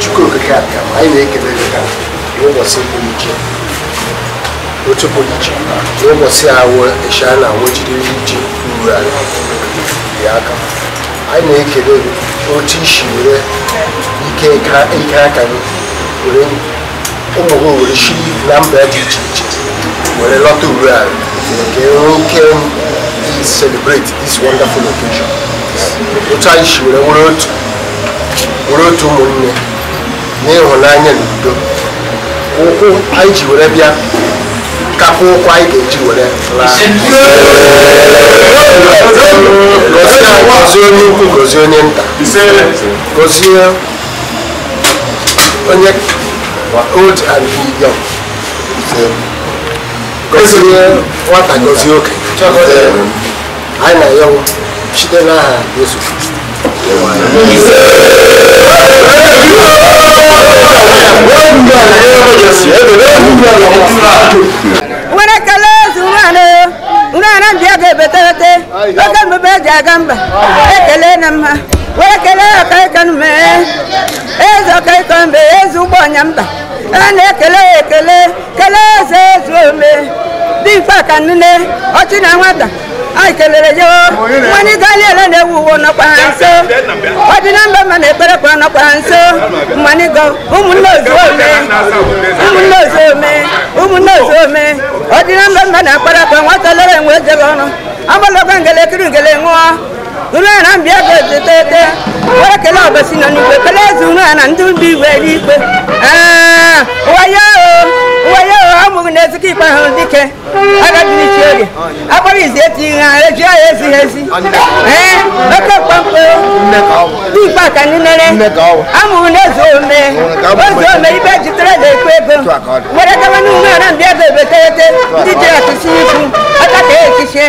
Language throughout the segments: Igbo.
Chukwu okike abịama anyị na-ekele gị ka n'ụbọchị bụ iche otu bụ iche n'ụbọchị awụ ịsha na awụ iri ji Urualla dị aka anyị na-ekele gị otu i si were ike ike aka gị were ụmụ gị were si na mba dị iche iche were lọta Urualla nke oke celebrate this wonderful occasion otu anyị si were nwere otu were otu ụmụnne na ịhụnanya na udo ụkwụ anyị ji were bịa kakwa ụkwụ anyị ga-eji were gozie onye ukwu gozie onye nta gozie onye old and young gozie nwata gozie okenye anyị na-ayọ site n'aha Yesu Kristi were kele Ozu nwaanyị nwaanyị ndị ego ebeterete oge mbebe e ji aga mba ekele na mma were kele ọkaịkọ mbe eze ọkaịkọ mbe eze ụgbọ ọnya mba a na-ekele ekele kelee eze Ozuome dị mfe ka nne ọchị na nwata anyị kelere ya nwanne ịgali ele na-ewu uwe nọkwa ha nso ọdịna mba mma na ekpere kwa nọkwa ha nso mmanigo ụmụnne ozuome ụmụnne ozuome ụmụnne ozuome ọdịna mba mma na akpara kwa nwata lere enwe ejebe ọnụ agbalaga ngele e kuru ngele ṅụọ unu ya na mbịa ebe etetete were kele ọbasi nọ n'igwe kele eze unu ya na ndị ndị igwe n'ikpe Ee, wayo wayo amụghị na ezikọ ikpe ahụ dike agadichi oge akpọrọ izi eti ihe ha eji ya ezighị ezi ee oke mkpamkpo dị ikpe aka ndị nere amụghị na eze ome eze ome ibe jitere na ekwe ego were gawa n'ụlọ ya na mbịa ebe etetete ndị ji atụsi ikwu aka ka echichie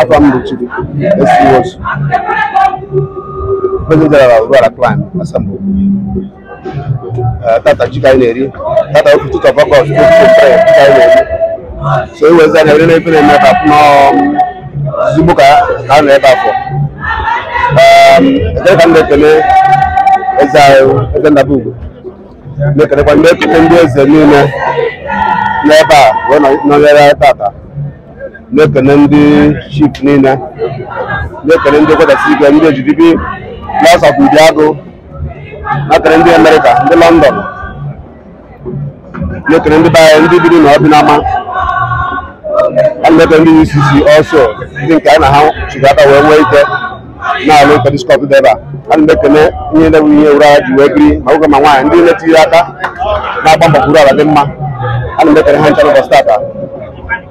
afa m bụ Chidi esiwosu President General Urualla Clan Assembly Eh, tata ji ka anyị na-eri tata ofu tụtụ ọkọkọ ọtụtụ ofu mpere ji ka anyị na-eri so ewezi anya were na-efe na-eme ka pụnọ ezigbo ka ka a nọ ebe afọ ekele ka m na-ekele eze anyị eze ndaba ugwu na-ekelekwa ndị ekele ndị eze niile n'ebe a wee nọ- nọnyere anyị tata na-ekele ndị chief niile na-ekele ndị kwedasị ike ndị ejidibi na-asapụ ụdị agụ na-ekele ndị America ndị London na-ekele ndị be anyị ndị biri na ọbịnama a na-ekele ndị UCC ọsọ ndị nke anyị na ha chịrị aka wee nwee ike na-alụ nke diskọt dị ebe a a na-ekele ihe na ihe ụra ha ji wee biri ma nwoke ma nwaanyị ndị na-etinye aka na-agba mbọ ka Uruala dị mma a na-ekele ha ncha n'ụbọchị tata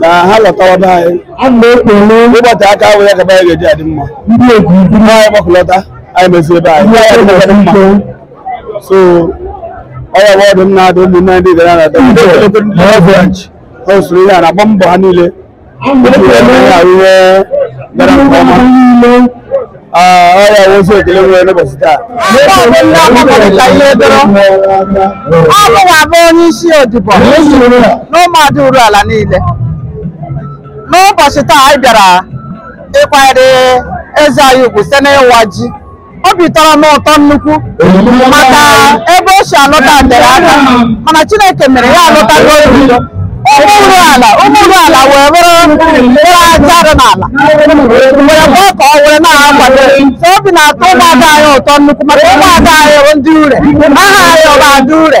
na ha lọtawa be anyị a na-ekpele ụbọchị aka ahụ ya gaba ya ga-eji adị mma ndị egwu ndị anyị gbakọlọta anyị mezie be anyị ya adị mma mma so ọ ya bụ ọdụ m na-adụ ụmụnne ndị gara na adọ ndị ogologo ndị Lagos branch ha usoro ihe a na-agba mbọ ha niile a ndị na-ekpele ga-arụ ihe gara nke ọma niile ọrịa nwozu ekele nwere n'ụbọchị taa Abụ ndị agbakọrịta Ihedoro. Ọ mụwa bụ onye isi odibo n'ụmụada Uruala niile. N'ụbọchị taa anyị bịara ịkwanyere eze anyị ugwu site n'ịwa ji. Obi tọrọ m ụtọ nnukwu maka ebe o si alọta tere aka mana chineke mere ya alọta n'obodo ụmụ Uruala ụmụ Uruala wee bụrụ bụrụ aja dị n'ala were gwa ka ọ were na-akwado so obi na-atọ ụmụada anyị ụtọ nnukwu maka ụmụada anyị bụ ndị ure aha anyị ọ bụ ada ure